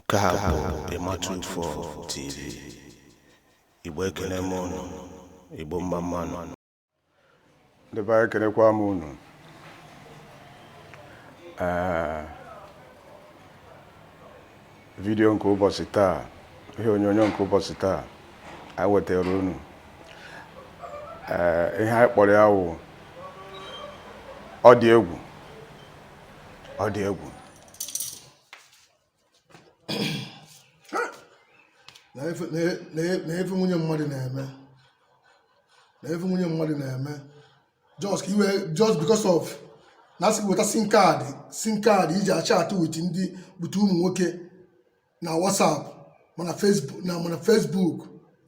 Nke a bụ Ịmatu Ufo TV. Igbo ekene m unu. Igbo mma mmanụ. Ndị be anyị ekenekwa m unu. Ee, vidiyo nke ụbọchị taa, ihe onyonyo nke ụbọchị taa, anyị wetara unu. Ee, ihe anyị kpọrọ ya wụ ọ dị egwu, ọ dị egwu. nee ife nwunye mmadụ na-eme nee ife nwunye mmadụ na-eme just iwe just because of na asị gị weta sim card sim card iji achat with ndị bute ụmụ nwoke na WhatsApp ma na Facebook na ma na Facebook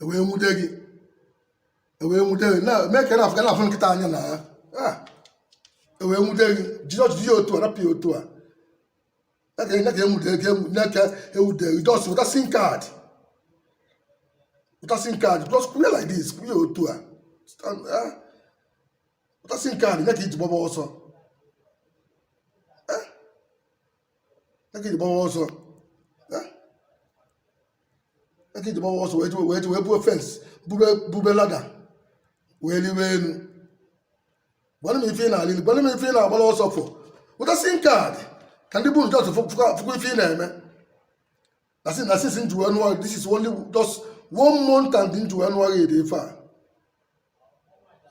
ewee nwude gị ewee nwude gị na mee ka na afọ na afọ nkịta anya na ya ah, ewee nwude gị jiri ọchịchị ya otu a rapụ ya otu a sim card weta sim card just clear like this clear otu a eh? weta sim card nee ka iji gbaba ọsọ eh? nee ka iji gbaba ọsọ eh? nee ka iji gbaba ọsọ wee wee wee buo fence bube lada wee liwe elu gwanụ m ife ị na-alili gwanụ m ife ị na-agbara ọsọ fụ weta sim card ka ndị be unu just fụkwa ife ị na-eme na si na since m ji wee nụọ this is only just one month and m ji wee nụọ gị ife a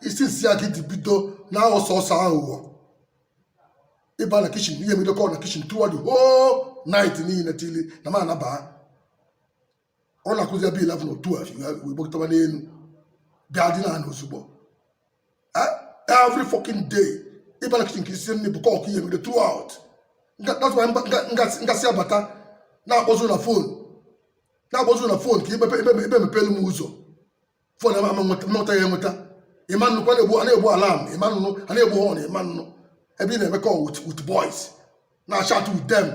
isi nsi ya gị dị bido na sọọsọ aghụghọ ịba na kitchen ihe emedokọ na kitchen throughout the whole night niile till na m anabaa ọ na-akụzi ebe 11 otu a wee gbagotaba n'enu bịa dina ozugbo eh? every fucking day ịba na kitchen ka isi nri bụ kọk ihe mere throughout that's why m ga-esi abata na-akpọzu na fon na-akpọzu na fon ka imepe ị bịa mepelu m ụzọ fon ama ama nweta mmụta ya enweta ị ma anụkwu a na-egbu a na-egbu alarm ị ma anụ a na-egbu horn ị ma anụ ebe ị na-eme call with with boys na-achat with them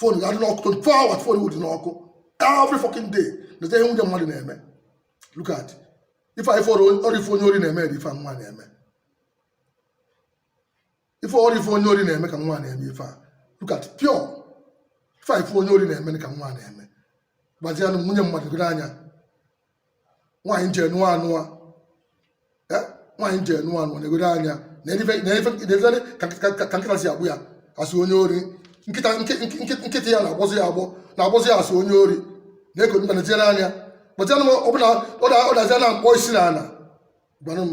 fon ga-adị n'ọkụ 24 hours fon wụ dị n'ọkụ every fucking day nete ihe nwunye mmadụ na-eme look at ife anyị fọrọ ori ife onye ori na-eme dị ife nwa na-eme ife ori ife onye ori na-eme ka nwa na-eme ife a look at pure ife a ife onye ori na-eme ka nwa na-eme gwazianụ m nwunye mmadụ gị n'anya nwaanyị m je nụọ anụọ Eh, nwaanyị m je nụọ anụọ na-egodo anya na ife na ife na ife ka ka- ka- ka nkịta si agbụ ya asị onye ori nkịta nke- nke- nke- nkịta ya na-agbọzi ya agbọ na-agbọzi ya asị onye ori na-eko mba na tinyere anya gwazianụ m ọbụla ọ da- ọ dazi a na-akpọ isi n'ana gwanụ m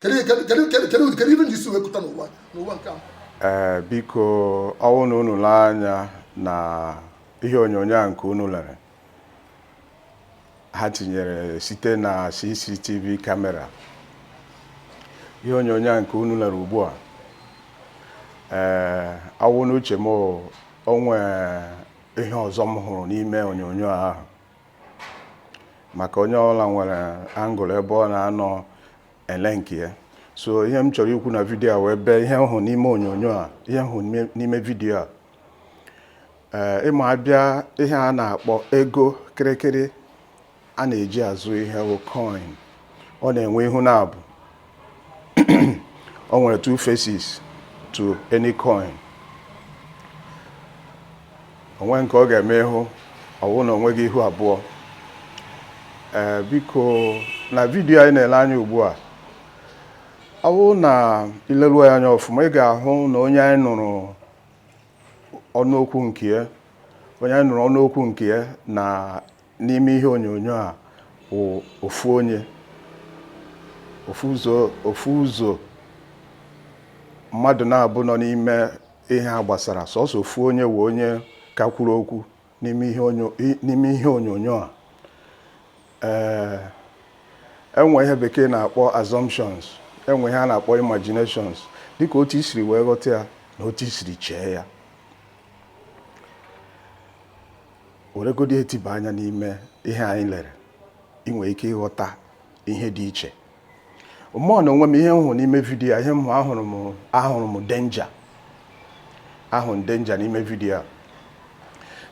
kedu ebe anyị si wee kụta n'ụwa n'ụwa nke a ee eh, biko ọ wụ na unu lee anya na ihe onyonyo a nke unu lere ha tinyere site na CCTV kamera ihe onyonyo a nke unu lere ugbu a ee eh, ọ wụ n'uche m o nwe ihe ọzọ m hụrụ n'ime onyonyo ahụ maka onye ọbụla nwere angle ebe ọ na-anọ ele nke ya so ihe m chọrọ ikwu na vidiyo a wee bee ihe m hụ n'ime onyonyo a ihe m hụ n'ime vidiyo a ee ị ma a bịa ihe a na-akpọ ego kịrịkịrị a na-eji azụ ihe bụ coin ọ na-enwe ihu naabọ o nwere two faces to any coin o nwe nke ọ ga-eme ị hụ ọ wụ na o nweghị ihu abụọ ee biko na vidiyo anyị na-ele anya ugbu a ọ wụ na i leruo ya anya ọfụma ị ga-ahụ na onye anyị nụrụ ọnụ okwu nke ya onye anyị nụrụ ọnụ okwu nke ya na n'ime ihe onyonyo a wụ ofu onye ofu ụzọ ofu ụzọ mmadụ naabọ nọ n'ime ihe a gbasara sọsọ ofu onye wụ onye ka kwuru okwu n'ime ihe onyo- i- n'ime ihe onyonyo a ee e nwe ihe Bekee na-akpọ assumptions e nwe ihe a na-akpọ imaginations dịka otu i siri wee ghọta ya na otu i siri chee ya weregodi e tiba anya n'ime ihe anyị lere ị nwere ike ịghọta ihe dị iche mụ n'onwe m ihe m hụ n'ime vidiyo a ihe m hụ ahụrụ m ahụrụ m danger ahụ m danger n'ime vidiyo a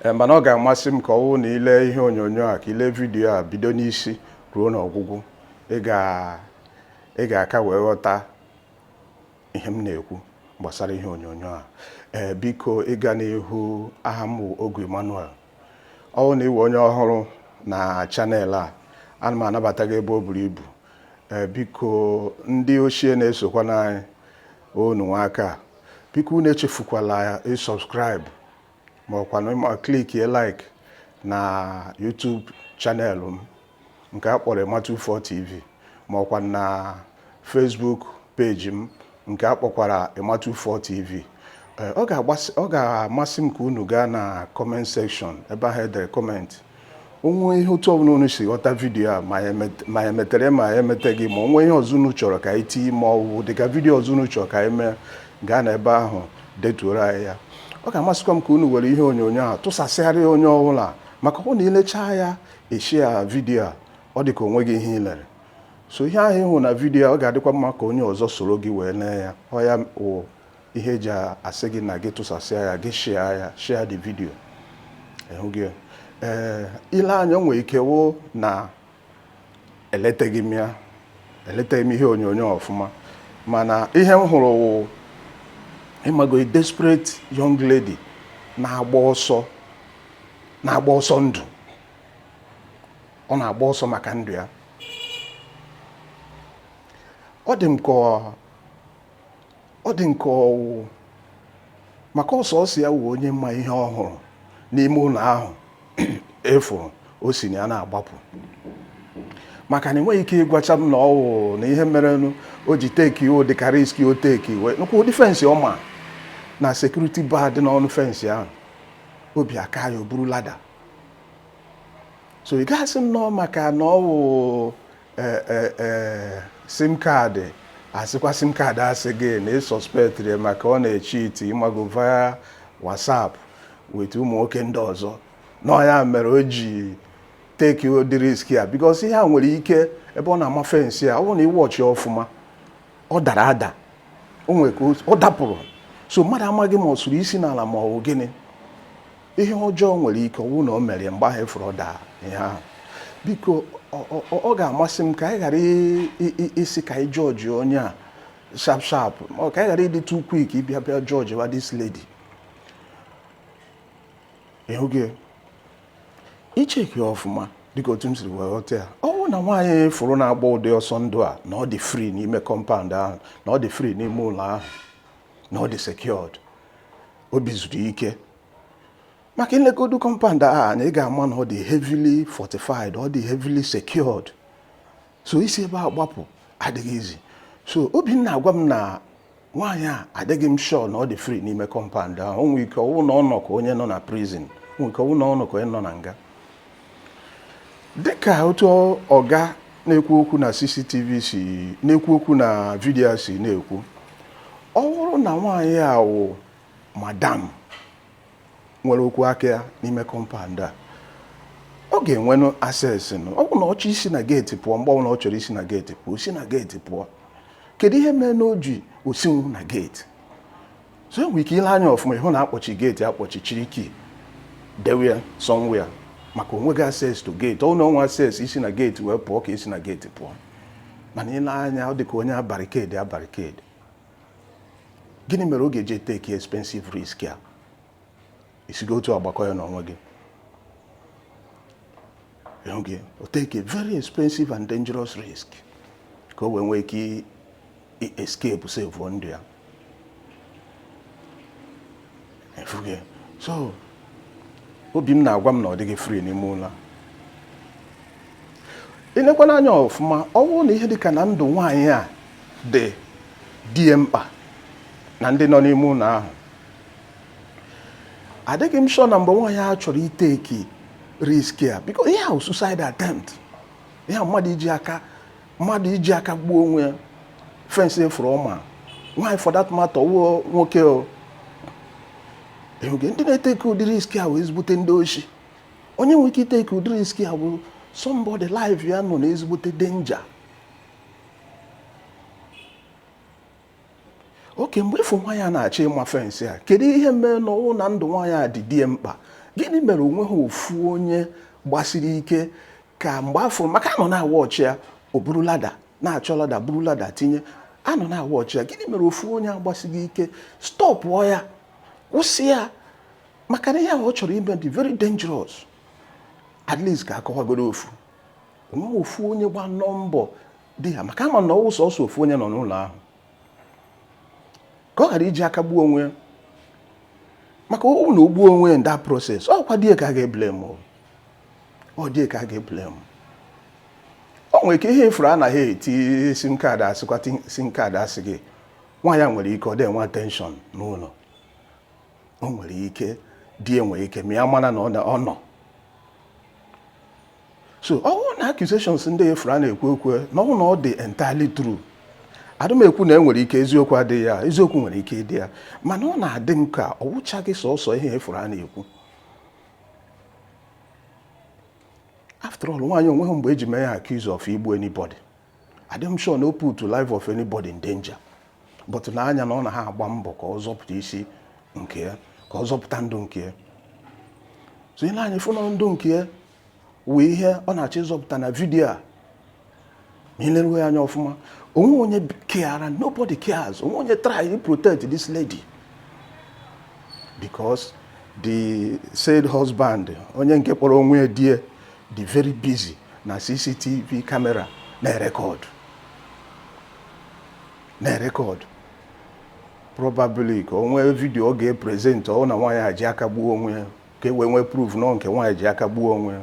Ee, mana ọ ga-amasị m ka ọ wụ na i le ihe onyonyo a ka i le vidiyo a bido n'isi ruo n'ọgwụgwụ ị ga- ị ga-aka wee ghọta ihe m na-ekwu gbasara ihe onyonyo a ee biko ịga n'ihu aha m bụ Ogu Emmanuel ọ bụ na ị wụ onye ọhụrụ na channel a ana m anabata gị ebe o buru ibu ee biko ndị ochie na-esokwanụ anyị unu anwaka biko unu echefukwala ịsubscribe ma ọkwanụ ma clickie like na YouTube channel m nke a kpọrọ Emma24 TV ma ọkwa na Facebook page m nke a kpọkwara Emma24 TV eh, ọ ga-amasị m ka unu gaa na comment section ebe ahụ e dere comment o nwe ihe otu ọbụla unu si ghọta vidiyo a ma e metere ma e meteghị ma o nwe ihe ọzọ unu chọrọ ka anyị tinye ma ọ bụ dịka vidiyo ọzọ unu chọrọ ka anyị mee gaa na ebe ahụ detuoro anyị ya ọ ga-amasịkwa m ka unu were ihe onyonyo a tụsasịgharịa onye ọbụla maka ọ wụ na i lechaa ya eshia vidiyo a ọ dị ka o nweghị ihe ị lere so ihe ahụ ị hụ na vidiyo ọ ga-adịkwa mma ka onye ọzọ soro gị wee lee ya ọ ya wụ ihe e ji asị gị na gị tụsasịa ya gị shịa ya share the video ịhụ gị ee ile anya o nwere ike wụ na eleteghị m ya eleteghị m ihe onyonyo ọfụma mana ihe m hụrụ wụ ịmago desperate young lady na- na-agba ọsọ ndụ ọ na-agba ọsọ maka ndụ ya ọ dị m ka ọ dị m ka ọwụ maka ọ sọsọ ya wụ onye ma ihe ọ hụrụ n'ime ụlọ ahụ efuru o si na ya na-agbapụ maka na ị nweghị ike ịgwacha m na ọwụ na ihe merenụ o ji teki o dịka riski o teki wee nụkwa ụdị fensị ọ ma na sekuriti ba dị n'ọnụ fensị ahụ obi akaa ya o buru lada so ị ga-asị m na ọ maka na ọwụ ee ee ee sim kaadị asịkwa sim kaadị asị gị na ị sọspektịrị ya maka ọ na-echiiti ịmago via WhatsApp with ụmụ nwoke ndị ọzọ na ọ ya mere o ji teki ụdị risk a because ihe a nwere ike ebe ọ na-ama fensị a ọ bụrụ na ị wọchi ya ọfụma ọ dara ada o nwere ka o- ọ dapụrụ so mmadụ amaghị ma ọ sụrụ isi n'ala ma ọ bụ gịnị ihe ọjọọ nwere ike ọwụ na o mere ya mgbe ahụ efuru ọ daa ihe ahụ biko ọ- ọ- ọ- ọ ga-amasị m ka anyị ghara i- i- i- isi ka anyị jọji onye a sharp sharp ma ọ ka anyị ghara ịdị too quick ịbịa bịa jọji wa this lady ịhụ gị i cheki ọfụma dịka otu m siri wee ghọta ya ọ bụrụ na nwaanyị fụrụ na-agba ụdị ọsọ ndụ a na ọ dị free n'ime kọmpaụnd ahụ na ọ dị free n'ime ụlọ ahụ na ọ dị secured obi zuru ike maka ilegodu kọmpand a na ị ga-ama na ọ dị heavily fortified ọ dị heavily secured so isi ebe a gbapụ adịghị easy so obi m na-agwa m na nwaanyị a adịghị m sure na ọ dị free n'ime kọmpand ahụ o nwere ike ọwụ na ọ nọ ka onye nọ na prison o nwere ike ọwụ na ọ nọ ka onye nọ na nga dịka otu ọga na-ekwu okwu na CCTV si na-ekwu okwu na vidiyo si na-ekwu ọ bụrụ na nwaanyị a wụ madam nwere okwu aka ya n'ime kọmpand a ọ ga-enwenụ access nụ ọ wụrụ na ọ chọọ isi na geeti pụọ mgbe ọbụla ọ chọrọ isi na geeti pụọ o si na geeti pụọ kedu ihe mere na o ji osinwu na geeti so i nwere ike ile anya ọfụma ị hụ na a kpọchi geeti akpọchi chịrị kii dewe ya somewhere maka o nweghị access to geeti ọ na o nwe access isi na geeti wee pụọ ka isi na geeti pụọ mana ile anya ọ dị ka onye a barikedi abarikedi gịnị mere ọ ga-eji eteki expensive risk a isigo otu agbakọ ya n'onwe gị o take a very expensive and dangerous risk ka o wee nwee ike escape save ndụ ya so obi m na-agwa m na ọ dịghị free n'ime ụlọ ilekwana anya ọfụma ọ bụrụ na ihe dị ka na ndụ nwaanyị a dị di ya mkpa na ndị nọ n'ime ụlọ ahụ adịghị m sure na mgbe nwaanyị a chọrọ iteki risk a because ihe a wụ suicide attempt ihe a wụ mmadụ iji aka gbuo onwe ya fensị ị fụrụ ọ ma nwaanyị for that matter ọwụ nwoke o ndị na-eteki ụdị risk a wụ ezigbote ndị oshi onye nwere ike iteki ụdị risk a wụ somebody life ya nọ na ezigbote danger okay mgbe ịfụ nwaanyị a na-achọ ịma fensị a kedu ihe mere na ọwụ na ndụ nwaanyị a dị di ya mkpa gịnị mere onweha ofu onye gbasiri ike ka mgbe afọ maka a nọ na-awọchị ya o buru lada na-achọ lada buru lada tinye a nọ na-awọchị ya gịnị mere ofu onye agbasighị ike stọpụọ ya kwụsị ya maka na ihe ahụ ọ chọrọ ime dị very dangerous at least ka akọwagoro ofu onwe ofu onye gbanụ mbọ di ya maka a ma na ọwụ sọsọ ofu onye nọ n'ụlọ ahụ ka ọ ghara iji aka gbuo onwe ya maka ọwụ na o gbuo onwe ya in that process ọkwa di ya ka a ga-eblem ọ di ya ka a ga-eblem o nwere ike ihe ị fụrụ a na ha eti sim kaadị asịkwa sim kaadị asị gị nwaanyị a nwere ike ọ dị enwe attention n'ụlọ o nwere ike di ya enwe ike ma ya mara na ọ nọ so ọwụ na accusations ndị ị fụrụ a na-ekwu ekwu na ọwụ na ọ dị entirely true adị m ekwu na enwere ike eziokwu adịghị ya eziokwu nwere ike ịdị ya mana ọ na-adị m ka ọ wụchaghị sọsọ ihe ị fụrụ a na-ekwu after all nwaanyị onweghị mgbe eji mee ya accuse of igbu anybody adị m sure na o put life of anybody in danger but nee anya na ọ na ha agba mbọ ka ọ zọpụta isi nke ya ka ọ zọpụta ndụ nke ya so i nee anya fụ na ndụ nke ya wụ ihe ọ na-achọ ịzọpụta na vidiyo a ma ileruo ya anya ọfụma onwe onye keara nobody cares onwe onye try to protect this lady because the said husband onye nke kpọrọ onwe ya di ya dị very busy na cctv camera na-erekọdụ na-erecord probably ka o nwee video ọ ga-epresent ọ wụ na nwaanyị a ji aka gbuo onwe ya ka e wee nwee proof na ọ nke nwaanyị ji aka gbuo onwe ya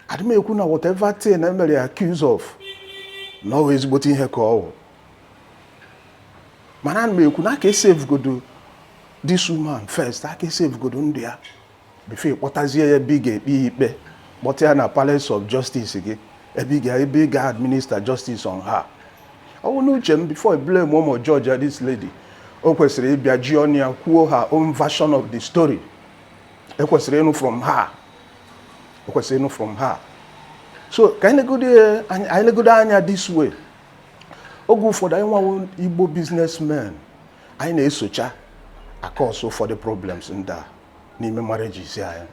adị m ekwu na whatever thing e mere ya accuse of na ọ ezigbote ihe ka ọ wụ mana ana m ekwu na a ka esavegodo this woman first a ka esavegodo ndụ ya before ị kpọtazie ya ebe ị ga-ekpe ya ikpe kpọta ya na Palace of Justice gị ebe ị ga- ebe ị ga-administer justice on her ọ wụ n'uche m before I blame ma ọ wụ judge this lady o kwesịrị ịbịa ji ọnụ ya kwuo her own version of the story e kwesịrị ịnụ from her e kwesịrị ịnụ from her so ka anyị legodo ya- anyị anyị legodo anya this way oge ụfọdụ anyị nwa wụ Igbo businessmen anyị na-esocha acause ụfọdụ problems ndị a n'ime marriages anyị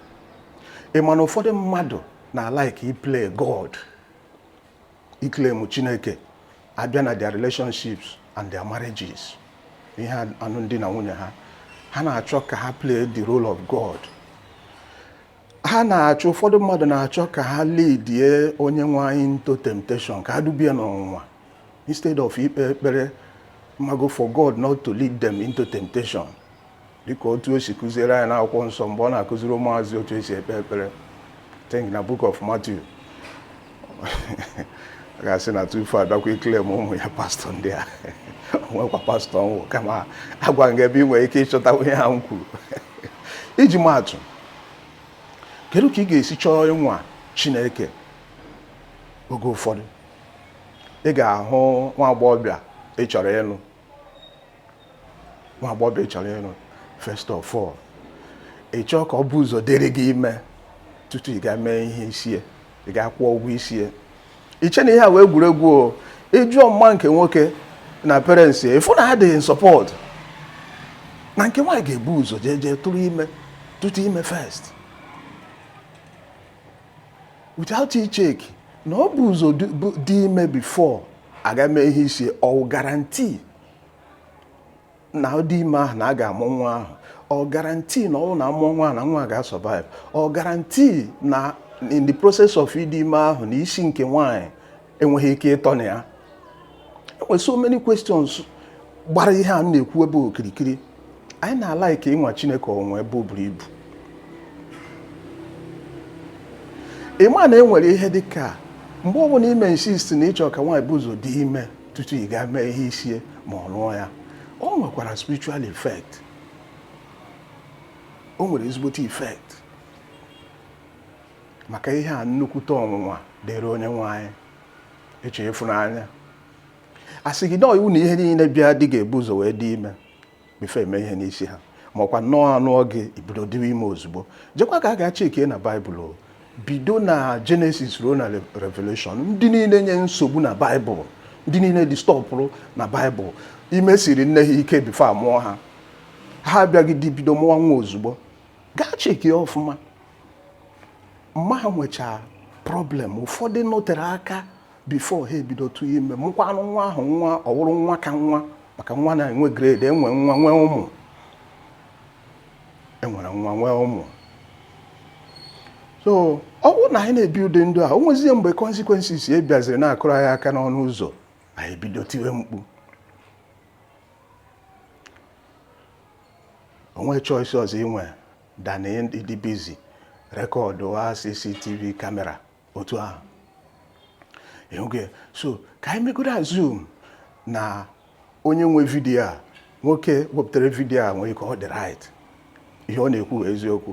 ị ma na ụfọdụ mmadụ na-alike iplay God iclaim Chineke a bịa na their relationships and their marriages ihe anụm di na nwunye ha ha na-achọ ka ha play the role of God ha na-achọ ụfọdụ mmadụ na-achọ ka ha leadie onye nwe anyị into temptation ka ha duba ya n'ọnwụnwa instead of ikpe ekpere mago for God not to lead them into temptation dịka otu o si kụziere anyị n'akwụkwọ nsọ mgbe ọ na-akụziri ụmụazụ otu esi ekpe ekpere think na book of Matthew a ga-asị na tufu abịakwa iclaim ụmụ ya pastor ndị a o nwekwa pastor m wụ kama agwa m gị ebe ị nwere ike ịchọta ihe a m kwuru iji maatụ kedu ka ị ga-esi chọọ ịnwa Chineke oge ụfọdụ ị ga-ahụ nwa agbọghọbịa ị chọrọ ịnụ nwa agbọghọbịa ị chọrọ ịlụ first of all ị chọọ ka o bu ụzọ dịrị gị ime tutu ị gaa mee ihe isi ya ị gaa kwụọ ụgwọ isi ya i chee na ihe a wụ egwuregwu o ị jụọ ma nke nwoke na parents ị fụ na ha dị in support na nke nwaanyị ga-ebu ụzọ jee jee tụrụ ime tutu ime first without icheck na o bu ụzọ dị ime before a gaa mee ihe isi ya ọ wụ guarantee na ọ dị ime ahụ na a ga-amụ nwa ahụ ọ guarantee na ọ na a mụọ nwa na nwa ga-asurvive ọ guarantee na in the process of ịdị ime ahụ na isi nke nwaanyị enweghị ike ịtọ na ya e nwere so many questions gbara ihe a na-ekwu ebe okirikiri anyị na-alike ịnwa Chineke ọnwa ebe o buru ibu ị ma na e nwere ihe dị ka mgbe ọ bụla i mee insist na ị chọ ka nwaanyị bu ụzọ dị ime tutu ị gaa mee ihe isie ma ọ lụọ ya o nwekwara spiritual effect o nwere ezigbote effect maka ihe a nnukwute ọnwụnwa dịrị onye nwaanyị eche ịfụnanya a sị gị na iwu na ihe niile bịa dị ga-ebu ụzọ wee dị ime before e mee ihe n'isi ha ma ọkwa nnọọ a nụọ gị i bido dịwa ime ozugbo jekwa gaa gaa chekie na baịbụl bido na Genesis ruo na revelation ndị niile nye nsogbu na baịbụl ndị niile distọbụrụ na baịbụl ime siri nne ha ike before a mụọ ha ha abịaghịdị bido mụọ nwa ozugbo gaa chekie ọfụma mma ha nwechaa problem ụfọdụ nọtere aka before ha ebido tụọ ime mụkwanụ nwa ahụ nwa ọ wụrụ nwa ka nwa maka nwa na-enwe grade e nwee nwa nwee ụmụ e nwere nwa nwee ụmụ so ọ bụrụ na anyị na-ebi ụdị ndụ a o nwezie mgbe consequences e bịaziri na-akụrụ anyị aka n'ọnụ ụzọ anyị ebido tiwe mkpu o nwe choice ọzọ i nwe than ịdị busy rekọdụwa CCTV camera otu ahụ ịhụgo so ka anyị megodu assume na onye nwe vidiyo a nwoke wepụtara vidiyo a nwere ike ọ dị right ihe ọ na-ekwu eziokwu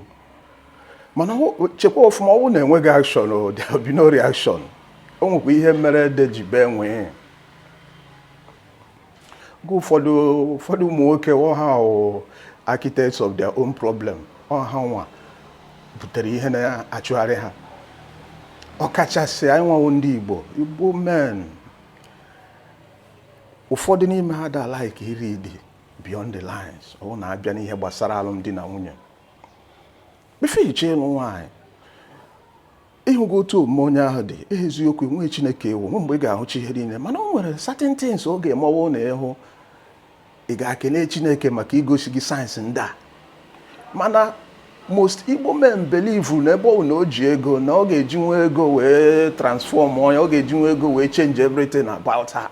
mana chekwa ọfụma ọ wụ na enweghị action there will be no reaction o nwekwa ihe mere ede ji bee nwii nke ụfọdụ ụmụ nwoke ọ ha wụ architects of their own problem ọ ha nwa butere ihe na-achụgharị ha ọkachasị anyị nwa wụ ndị Igbo Igbo men ụfọdụ n'ime ha da like iriidi beyond the lines ọ bụ na a bịa n'ihe gbasara alụmdi na nwunye before i je ịlụ nwaanyị ịhụgo otu omume onye ahụ dị eziokwu nwee chineke ị wụ nwe mgbe ị ga-ahụcha ihe niile mana o nwere certain things ọ ga-eme ọ wụ na ị hụ ị ga-akele chineke maka igosi gị signs ndị a mana most igbo men believe na ebe ọ wụ na o ji ego na ọ ga-ejinwu ego wee transform onye ọ ga-ejinwu ego wee change everything about her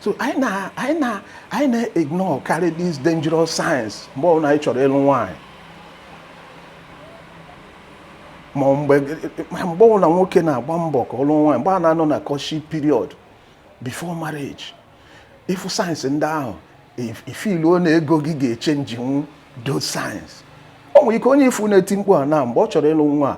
so anyị na-ignore karị these dangerous signs mgbe ọbụla anyị chọrọ ịlụ nwaanyị ma mgbe ọbụla nwoke na-agba mbọ ka ọ lụọ nwaanyị mgbe a na-anọ na courtship period before marriage ị fụ signs ndị ahụ i filuo na ego gị ga-echenjinwu those signs o nwere ike onye ị fụ na-eti mkpu a na mgbe ọ chọrọ ịlụ nwa a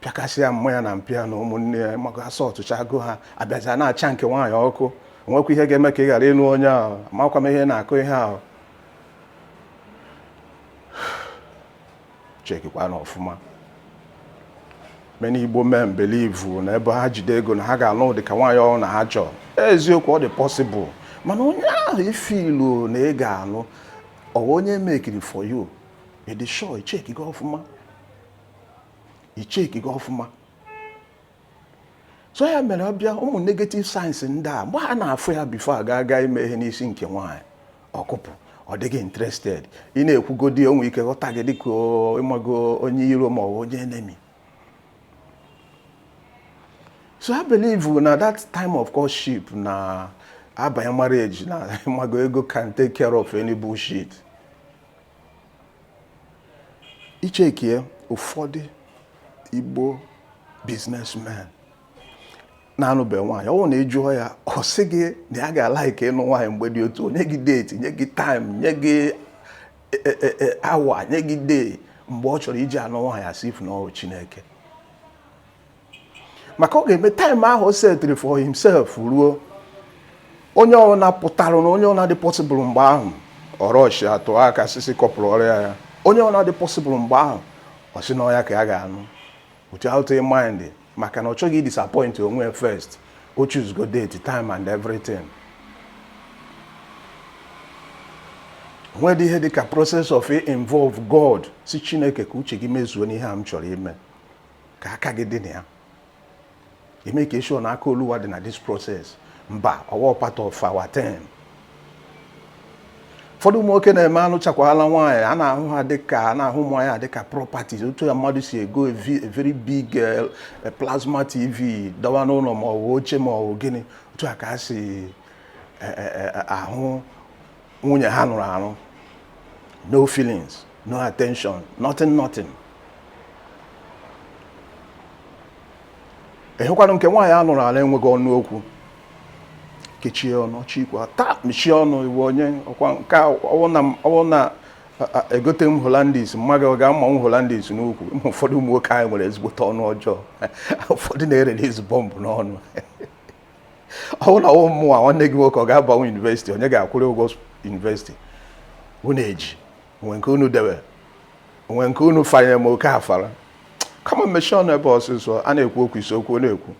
pịakasịa mma ya na mpa ya na ụmụnne ya maka asọ ọtụcha agụ ha abịaja na-acha nke nwaanyị ọkụ nwekwa ihe ga-eme ka ị ghara ịnụ onye ahụ amakwa m ihe na-akụ ihe ahụ chekikwa na ọfụma many Igbo men believe na ebe ha jide ego na ha ga-alụ dị ka nwaanyị ọwụna ha chọrọ eziokwu ọ dị possible mana onye ahụ ị feelụ na ị ga-alụ ọ wụ onye mekiri for you ị dị sure i chekigo ọfụma i chekigo ọfụma so ya mere ọ bịa ụmụ negative signs ndị a mgbe ha na-afụ ya before a ga aga ime ihe n'isi nke nwaanyị ọkụpụ ọ dịghị interested ị na-ekwugodi o nwe ike ghọta gị dịka ịmago onye iro ma ọ bụ onye enemy so I believe na that time of courtship na abanye marriage na ịmago ego can take care of any bullshit i chekie ụfọdụ Igbo businessmen na-anụbe nwaanyị ọ bụrụ na ị jụọ ya ọ sị gị na ya ga-alike ịnụ nwaanyị mgbe dị otu nye gị date nye gị time nye gị hour nye gị day mgbe ọ chọrọ iji anụ nwaanyị as if na ọ wụ Chineke maka ọ ga-eme time ahụ o setịrị for himself ruo onye ọbụla pụtara na onye ọbụla dị possible mgbe ahụ ọrọchi atụ aka sisi kọpụrụ ọrịa ya onye ọbụla dị possible mgbe ahụ ọ sị na ọ ya ka ya ga-anụ without a mind maka na ọ chọghị disappoint onwe first o choosego date time and everything nwedị ihe dịka process of involve God sị Chineke ka uche gị mezuo n'ihe a m chọrọ ime ka aka gị dị na ya i make sure na aka Oluwa dị na this process mba ọ wụ part of our time ụfọdụ ụmụ nwoke na-eme anụchakwala nwaanyị a na-ahụ ha dịka a na-ahụ ụmụ ya dịka properties otu a mmadụ si ego a very big eh, eh, plasma tv dọwa n'ụlọ ma ọ bụ oche ma ọ bụ gịnị otu a ka ha si eh, ahụ nwunye ha nụrụ anụ no feelings no attention nothing nothing ị hụkwanụ nke nwaanyị a nụrụ anụ enweghị ọnụ okwu kechie ọnụ chikwa taa mechie ọnụ ị wụ onye ọkwa nke ọ wụ na egote m Hollandis mma gị ọ ga-ama m Hollandis n'ukwu ụfọdụ ụmụ nwoke anyị nwere ezigbote ọnụ ọjọọ ụfọdụ na-erelease bomb n'ọnụ ọ wụ na ọ wụ mụwa nwanne gị nwoke ọ ga-abanye university onye ga-akwụrụ ụgwọ university unu eji onwe nke unu debe onwe nke unu fanyere m oke afara kama mechie ọnụ ebe ọsịsọ a na-ekwu okwu isi okwu na-ekwu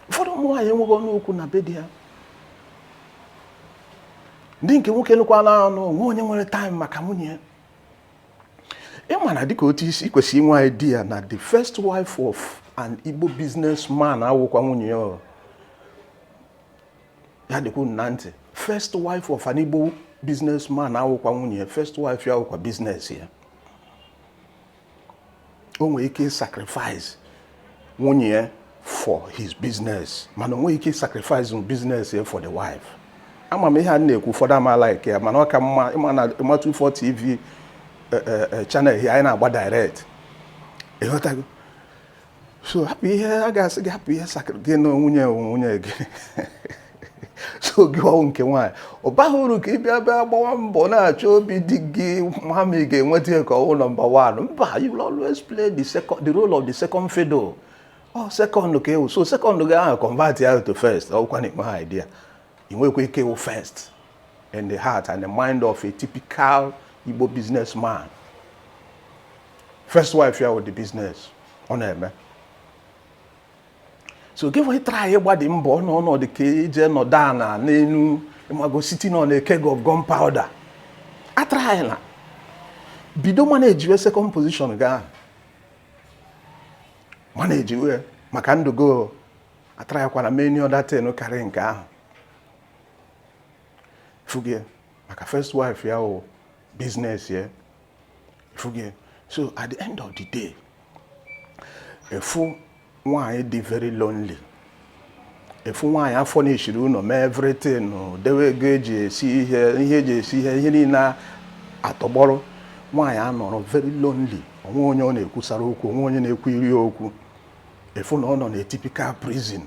ụfọdụ ụmụ nwaanyị enweghị ọnụ okwu na be di ya ndị nke nwoke nụkwa na anụ o nwe onye nwere time maka nwunye ya ịma na dịka otu i si kwesị inwe idea na the first wife of an Igbo businessman awụkwa nwunye ya ya dịkwa unu na ntị first wife of an Igbo businessman awụkwa nwunye ya first wife ya wụkwa business ya o nwere ike sacrifice nwunye ya for his business mana o nweghị ike sacrifice business ya for the wife ama m ihe a m na-ekwu ụfọdụ ama like ya mana ọ ka mma ịma 24 tv eh, eh, eh, channel here anyị na-agba direct ịghọtago so hapụ ihe a ga-asị gị hapụ ihe sakịrị gị na nwunye nwunye gị so gịwa wụ nke nwaanyị ọ baghị uru ka ị bịa bịa gbawa mbọ na-achọ obi di gị ma ma ị ga-enweta ya ka ị wụ number one mba you will always play the second the role of the second fiddle ọ oh, second ka ị wụ so second gị ahụ convert ya to first ọkwa na ịnweghị idea ị nwekwa ike ịwụ first in the heart and the mind of a typical Igbo businessman first wife ya wụ the business ọ na-eme so gị even try ịgbadi mbọ na ọ na-adị ka i je nọdụ ala n'elu ịmago sitting on a keg of gunpowder atrayela bido managewe second position gị a managewe maka ndụ gị atrayakwala mee any other thing karị nke ahụ ị fụgo ya maka first wife ya wụ business ya ị fụgo ya so at the end of the day ị fụ nwaanyị dị very lonely ị fụ nwaanyị a furnishiri ụlọ mee everything dewe ego eji esi ihe ihe eji esi ihe ihe niile atọgbọrọ nwaanyị anọrọ very lonely onwe onye ọ na-ekwusara okwu onwe onye na-ekwuyiri okwu ị fụ na ọ nọ na typical prison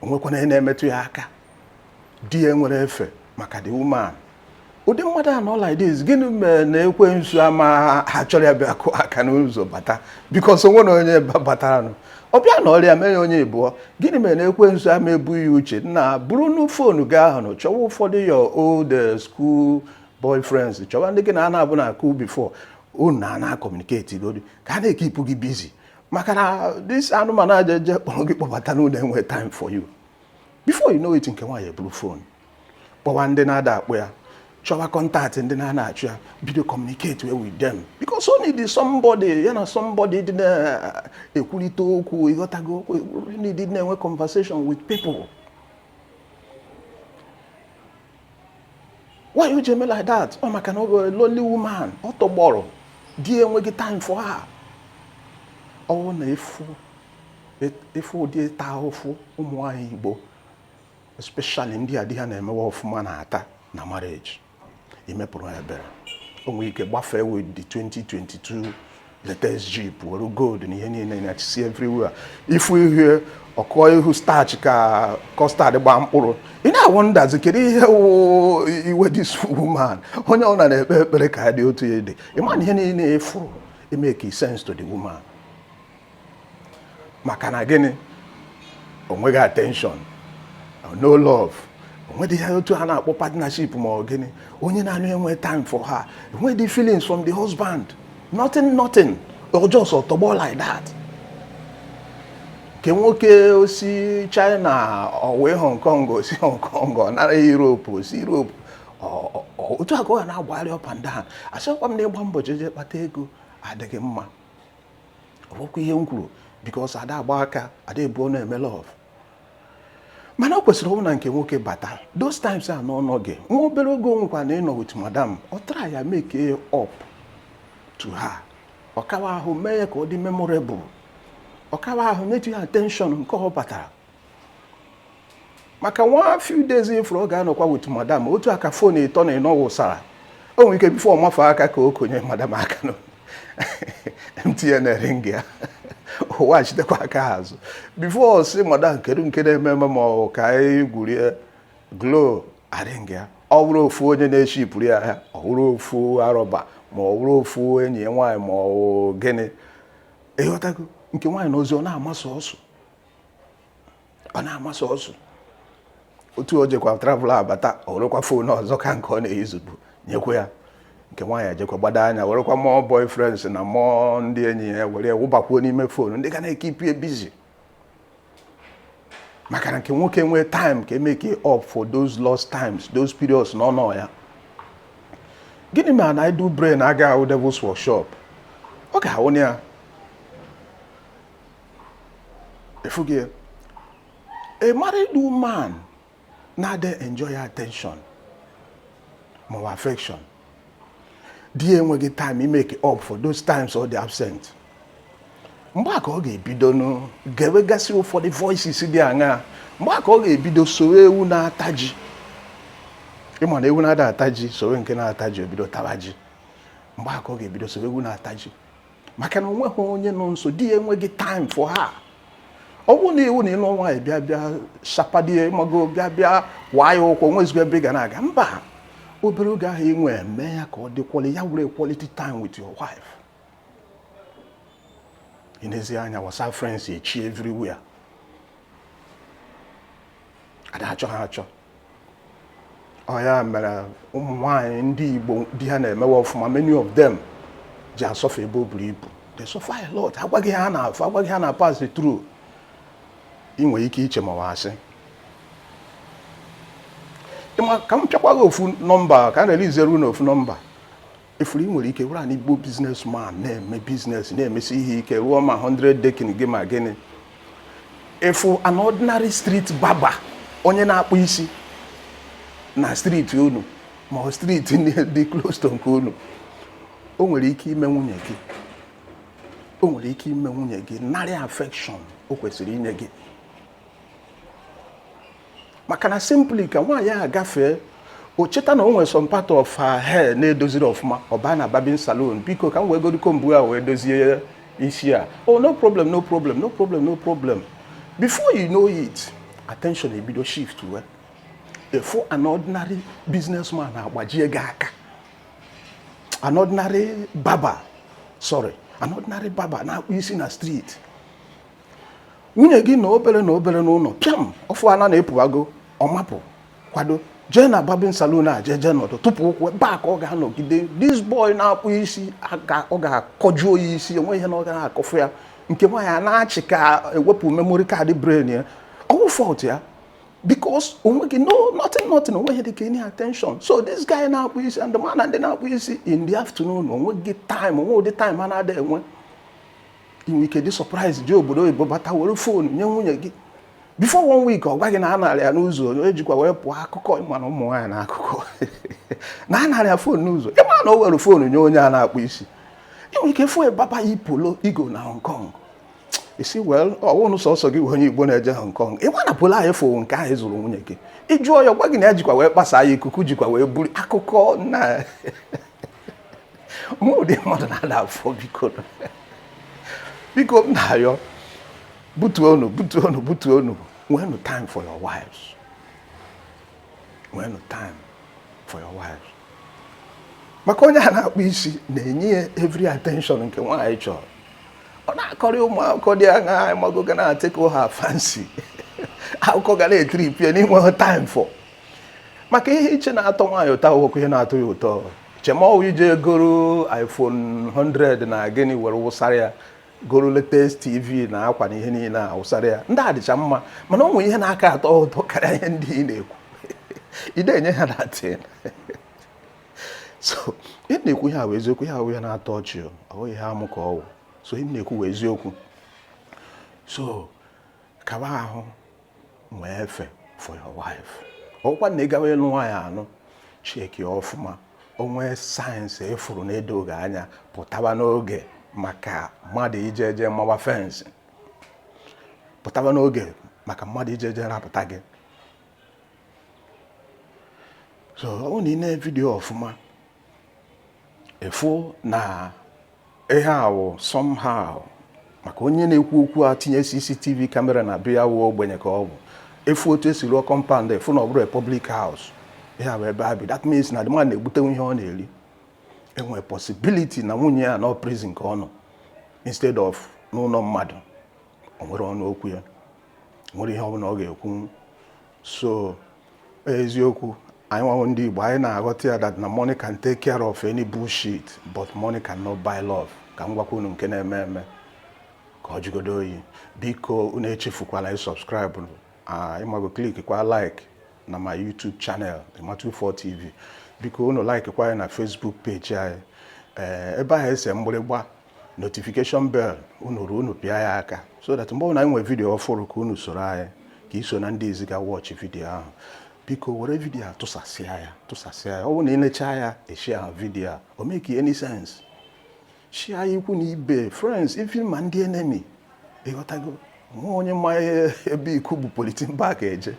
onwekwa onye na-emetụ ya aka di ya enwerọ efe maka the woman ụdị mmadụ a nọ like this gịnị mere na ekwensu amaha achọrọ ya bịa kụọ aka n'ụzọ bata because onwe na onye bataranụ ọ bịa nọrịa mee ya onye ịbụọ gịnị mere na ekwensu ama ebunye gị uche na burunu phone gị ahụ chọwa ụfọdụ your old eh, school boyfriends chọwa ndị gị na ha na-abụ na cool before unu na ha ana communicate godi ka ha na-ekipụ gị busy maka na this anụmanụ a jeje kpọrọ gị kpọbata n'ụlọ enwe time for you before you know it nke nwaanyị eburu phone kpọwa ndị na-ada akpọ ya chọwa contact ndị na-ana achụ ya bido communicatewe with them because ọ need somebody ya na somebody dị na-ekwurịta okwu ịghọtago ọ need na-enwe conversation with people why o ji eme like that ọ maka na ọ bụ lonely woman ọ tọgbọrọ di enweghị time for her ọ wụ na ị fụ ụdị ịta ahụfụ ụmụ nwaanyị Igbo especially ndị a di ha na-emewe ọfụma na-ata na marriage imepụrụ ebere o nwere ike gbafee with the 2022 latest jeep were gold na ihe niile na-achịsi everywhere ị fụ ihe ọ kụọ ihu starch ka custard gbaa mkpụrụ ị na-awọndazi kedu ihe iwe this woman onye ọbụla na-ekpe ekpere ka ya dị otu ya dị ị ma na ihe niile ị fụrụ emeke sense to the woman maka na gịnị o nweghị attention no love o nwedị ya otu a na-akpọ partnership ma ọ gịnị onye na-anụ enwe time for her enwedị feelings from the husband nothing nothing ọ just tọgbọ like that nke nwoke o si China ọ waa Hong Kong o si Hong Kong ọ nara Europe o si Europe otu a ka ọ na-agbagharị up and down asịkwa m na ịgba mbọ jeje kpata ego adịghị mma ọ wụkwa ihe m kwuru because ada agba aka ada ebu ọnụ eme love mana o kwesịrị ọ wụ na nke nwoke bata those times na ọ nọghị nwa obere oge o nwekwanụ nọ with madam ọ traya make up to her ọkawa ahụ mee ya ka ọ dị memorable ọkawa ahụ nyetụ ya attention nke ọ batara maka nwa few days ị fụrụ ọ ga-anọkwa with madam otu a ka phone ịtọ na ịnọ wụsara o nwere ike before ọ mafee aka ka o konye madam aka na mtn ring ya o wechitekwa aka azụ before ọ sị madam kedu nke na-eme eme ma ọ ka anyị gwurie glo aring ya ọ bụrụ ofu onye na-eshipụrụ ya ahịa ọ bụrụ ofu arọba ma ọ bụrụ ofu enyi ya nwaanyị ma ọ gịnị ịghọtago nke nwaanyị nọzi ọ na-amasị ọsụ ọ na-amasị ọsụ otu o jekwa travel abata ọ werekwa phone ọzọ ka nke ọ na-eyuzubu nyekwa ya nke nwaanyị ejekwa gbado anya werekwa ụmụ boyfriends na ụmụ ndị enyi ya were wụbakwuo n'ime phone ndị ga na-ekeep ya busy maka na nke nwoke nwee time ka emeke up for those lost times those periods na ọ nọ ya gịnị ma na idle brain ga-awụ devil's workshop ọ ga-ahụ ya efughị a married woman na-adị enjoy attention ma ọ affection di ya enweghị time imeke up for those times ọ dị absent mgbe a ka ọ ga-ebido gewegasị ụfọdụ voices dị aṅaa mgbe a ka ọ ga-ebido sowe ewu na-ata ji ị ma na ewu na-ada ata ji sowe nke na-ata ji o bido taba ji mgbe a ka ọ ga-ebido sowe ewu na-ata ji maka na onweghị onye nọ nso di ya enweghị time for her ọ bụrụ na ị wụ na ị lụ nwaanyị bịa bịa shapadie mago bịa bịa waa ya ụkwụ nwezigo ebe ị ga na-aga mba obere oge ahụ i nwe mee ya ka ọ dị quali ya wụrụ quality time with your wife ị nezie anya WhatsApp friends echi everywhere a da achọ ha achọ ọ ya mere ụmụ nwaanyị ndị Igbo di ha na-emewe ọfụma many of them ji asuffer ebe o buru ibu they suffer a lot a gwa gị ihe ha na-afụ a gwa gị ihe ha na-pass through ị nwere ike iche ma ọ asị ka m pịakwa gị ofu nọmba ka m releaseru unu ofu nọmba ị fụrụ ị nwere ike wụrụ an Igbo business man na-eme business na-emesi ihe ike rụọ ma 100 decking gị ma gịnị ị fụ an ordinary street barber onye na-akpụ isi na street unu ma ọ street dị close to nke unu o nwere ike ime nwunye gị o nwere ike ime nwunye gị narị affection o kwesịrị inye gị maka na simply ka nwaanyị a gafee o cheta na o nwere some part of her hair na-edoziri ọfụma ọ baa na barbing salon biko ka m wegodu comb a wee dozie isi a oh no problem no problem no problem no problem before you know it attention ebido shiftwe ị fụ an ordinary businessman agbajie gị aka an ordinary barber sorry an ordinary barber na-akpụ isi na street nwunye gị nọ obere nọ obere n'ụlọ pịam ọ fụna na ị pụwago ọ mapụ kwado jee na barbing salon a jee jee nọdụ tụpụ ụkwụ ebe a ka ọ ga-anọgide this boy na-akpụ isi ọ ga-akọjuo ya isi enwe ihe na ọ gaghị akọfụ ya nke nwaanyị a na-achị ka e wepụ memory card brain ya ọ wụ fault ya because onweghị no nothing nothing onweghị dịka any attention so this guy na-akpụ isi and ị ma na ndị na-akpụ isi in the afternoon onweghị time o nwe ụdị time ha na-ada enwe i nwe ike dị surprise ji obodo oyibo bata were phone nye nwunye gị before one week ọ gwa gị na a narị ya n'ụzọ onye jikwa wee pụọ akụkọ ị ma na ụmụ nwaanyị na akụkọ na a narị ya phone n'ụzọ ị ma na o were phone nye onye a na-akpụ isi i nwe ike fụ barber yi polo ị go na Hong Kong ị sị well ọ wụnụ sọsọ gị onye Igbo na-eje Hong Kong ị ma na polo anyị fụ nke ahụ zụrụ nwunye gị ị jụọ ya gwa gị na ya jikwa wee gbasa ya ikuku jikwa wee buru akụkọ na o nwe ụdị mmadụ na-ada afọ biko biko m na-ayọ butuonụ butuonụ butuonụ nweenụ time for your wives nweenụ time for your wives maka onye a na-akpụ isi na-enye ya every attention nke nwaanyị chọrọ ọ na-akọrị ụmụ akụkọ dị aṅa ị mago ga na-atickle her fancy akụkọ ga na-etrip ya na i nweghị time for maka ihe i che na-atọ nwaanyị ụtọ awụhụkwa ihe na-atọ ya ụtọ chee ma ọ wụ i je goro iPhone 100 na gịnị were wụsara ya goro latest TV na akwa na ihe niile a wụsara ya ndị a dịcha mma mana o nwere ihe na-aka atọ ụtọ karịa ihe ndị ị na-ekwu ịdị enye ha attention ị na-ekwu ihe ahụ eziokwu ihe ahụ ya na-atọ ọchị ọ bụghị ihe amụ ka ọ wụ so ị na-ekwu eziokwu so kaba ahụ nwee efe for your wife ọkwa na ị gawa ịlụ nwaanyị anụ chekie ọfụma o nwee signs ị fụrụ na-edoghị anya pụtaba n'oge maka mmadụ ije eje mawa fensị pụtaba n'oge maka mmadụ ije eje rapụta gị so ọ wụ na i nee vidiyo ọfụma ị fụ na ihe a wụ somehow maka onye na-ekwu okwu a tinye CCTV kamera na be ya wụ ogbenye ka ọ bụ ị fụ otu e si rụọ kọmpand ị fụ na ọ bụrọ public house ya bụ ebe a bi that means na the man na-egbutenwu ihe ọ na-eri e nwere possibility na nwunye ya nọ prison ka ọ nọ instead of n'ụlọ mmadụ o nwere ọnụ okwu ya nwere ihe ọbụla ọ ga-ekwu so eziokwu anyị nwa wụ ndị Igbo anyị na-aghọta ya that na money can take care of any bullshit but money cannot buy love ka m gwakwa unu nke na-eme eme ka ọ jụgodo oyi biko unu echefukwala ịsọbskraịbụ ị mago kliki kwa like na my YouTube channel Ima24 TV biko unu like kwa anyị na Facebook peji anyị ee ebe ahụ e se mgbịrịgba notification bell unu ruo unu pịa ya aka so that mgbe ọbụla anyị nwere vidiyo ọfụrụ ka unu soro anyị ka i so na ndị izizi ga wọchị vidiyo ahụ biko were vidiyo a tụsasịa ya tụsasịa ya ọ bụrụ na i lechaa ya i shia vidiyo a o make any sense shia ikwu na ibe friends even ma ndị enemy ị ghọtago nwe onye ma ebe ikuku bu politin bag eje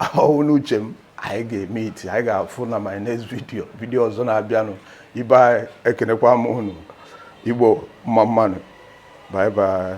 ahụhụ n'uche m anyị ga-emiiti anyị ga-afụ na my next video vidio ọzọ na-abịanụ ibe anyị ekenekwa m unu Igbo mma mma nụ bye bye